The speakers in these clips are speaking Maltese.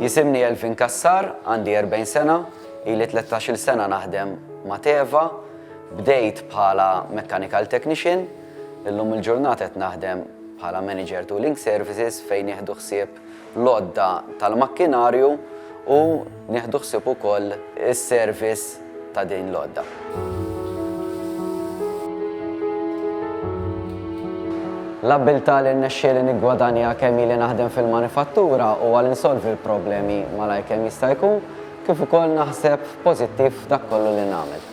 Jisimni Elvin Cassar, għandi 40 sena, ili tlettax-il sena naħdem ma' Teva, bdejt bħala mechanical technician, illum il-ġurnata qed naħdem bħala manager tu Link Services fejn nieħdu ħsieb l-għodda tal-makkinarju u nieħdu ħsieb ukoll is-service ta' din l-għodda. L-abbiltà li rnexxieli niggwadanja kemm ili naħdem fil-manifattura huwa li nsolvi l-problemi malajr kemm jista' jkun kif ukoll naħseb pożittiv f'dak kollu li nagħmel.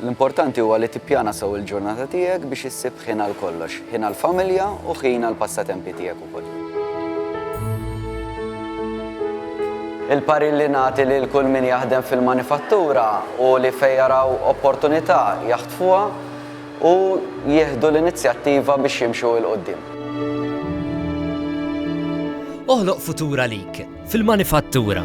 L-importanti huwa li tippjana sew il-ġurnata tiegħek biex issib ħin għal kollox, ħin għall-familja u ħin għall-passatempi tiegħek ukoll. Il-parir li nagħti lil kull min jaħdem fil-manifattura hu li fejn jaraw opportunità jaħtfuha u jieħdu l-inizjattiva biex jimxu 'l quddiem. Oħloq futur għalik fil-manifattura.